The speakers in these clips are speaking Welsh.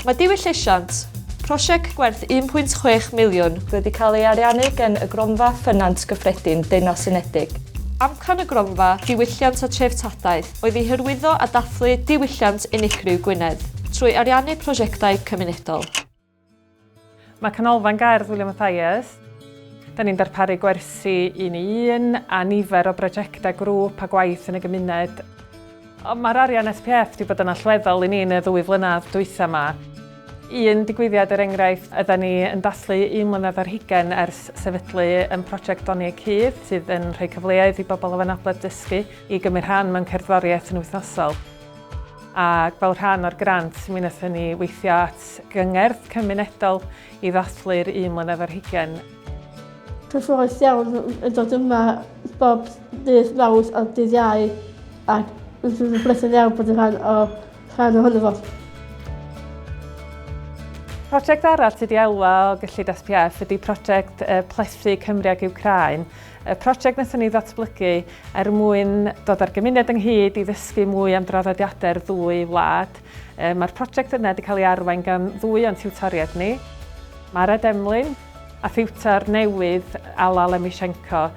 Mae Diwyll Llesiant, prosiect gwerth 1.6 miliwn, wedi cael ei ariannu gan y Gronfa Ffynant Gyffredin Deyrnas Unedig. Amcan y Gronfa Diwylliant a Threftadaeth oedd i hyrwyddo a dathlu diwylliant unigryw Gwynedd trwy ariannu prosiectau cymunedol. Mae Canolfan Gerdd William Mathias. Da ni'n darparu gwersi un i un a nifer o brosiectau grŵp a gwaith yn y gymuned. Mae'r arian SPF wedi bod yn allweddol i ni yn y ddwy flynedd dwytha yma. Un digwyddiad er enghraifft, yda ni yn dathlu un mlynedd ar hugain ers sefydlu yn prosiect Doni y Cudd sydd yn rhoi cyfleoedd i bobl o anabledd dysgu i gymryd rhan mewn cerddoriaeth yn wythnosol. ac fel rhan o'r grant mi wnaethon ni weithio at gyngerdd cymunedol i ddathlu'r un mlynedd ar hugain. Cyffrous iawn yn dod yma bob dydd Mawrth a dydd Iau ac rydw i'n blethu'n iawn bod yn rhan o rhan ohono fo. Prosiect arall sydd wedi elwa o gyllid SPF ydi prosiect Plethu Cymru ag Wcráin Y prosiect wnaethon ni ddatblygu er mwyn dod â'r gymuned ynghyd i ddysgu mwy am draddodiadau'r ddwy wlad. Mae'r prosiect yna wedi cael ei arwain gan ddwy o'n tiwtoriaid ni, Mara Demlin a thiwtor newydd Alla Lemishenko.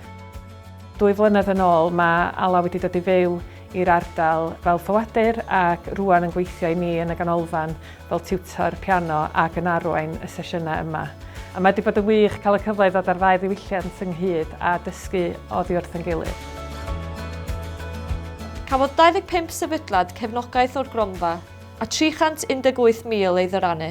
Dwy flynedd yn ôl mae Alla wedi dod i fyw i'r ardal fel ffoadur ac rŵan yn gweithio i ni yn y ganolfan fel tiwtor piano ac yn arwain y sesiynau yma. A mae wedi bod yn wych cael y cyfle i ddod â'r ddau ddiwylliant ynghyd a dysgu oddi wrth yn gilydd. Cafodd 25 sefydliad cefnogaeth o'r gronfa, a 318,000 ei ddyrannu.